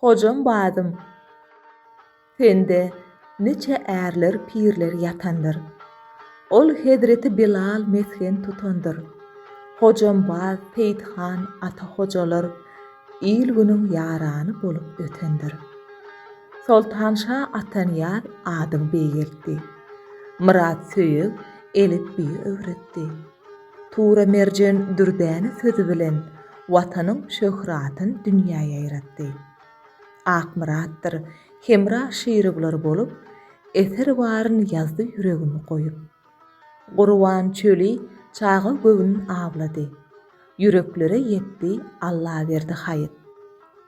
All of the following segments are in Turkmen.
Hojam badym, sende niçe ärler, pirler ýatandyr. Ol hezreti Bilal mesgen tutandyr. Hojam bad, Seýit han, Ata hojalar il-günüň ýarany bolup ötendir. Soltanşa Atanyýaz adyň beýgeltdi. Myrat Söýeg elipbiýi öwretdi. Tura Merjen dürdäne sözi bilen Watanyň şöhratyn dünýä ýaýratdy. Akmyratdyr Hemra Şirowlar bolup, eser baryn ýazdy ýüregimi goýup. Gurban çöli çaga göwün awlady. Ýüreklere ýetdi Allaberdi haýyt.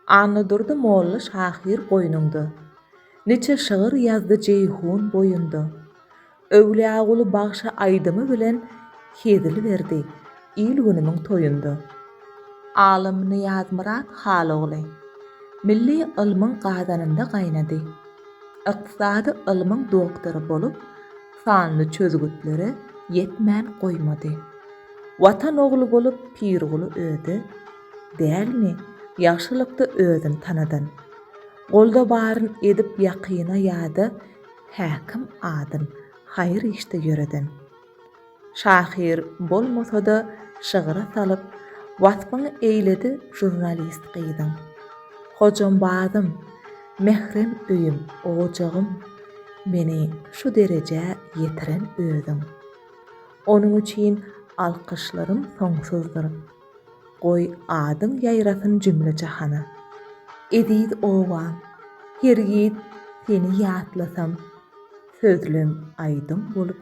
Annadurdy molla şahyr goýnuňda. Niçe şygyr ýazdy Jeýhun boýunda. Öwlüýaguly bagşy aýdymy bilen hezil berdi il-günümiň toýunda. Alym Nyýazmyrat Halogly milli ylmyň gazanynda gaýnady. Ykdysady ylmyň doktory bolup, sanly çözgütlere ýetmän goýmady. Watan ogly bolup Pirguly özi, dälmi, ýagşylykda özüni tanadan. Golda baryn edip ýakyna ýa-da Häkim adyn haýyr işde ýöreden. Şahyr bolmasa-da şygyra salyp waspyny eýledi žurnalist gyzyň. Hojam bazym, mährem öýüm, ojagym, meni şu derejä ýetiren özüň. Onuň üçin alkyşlarym soňsuzdyr. Goý, adyň ýaýrasyn jümle-jahana. Eziz obam, hergiz seni ýatlasam, Sözlem aýdym bolup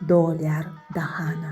dolýar dahana.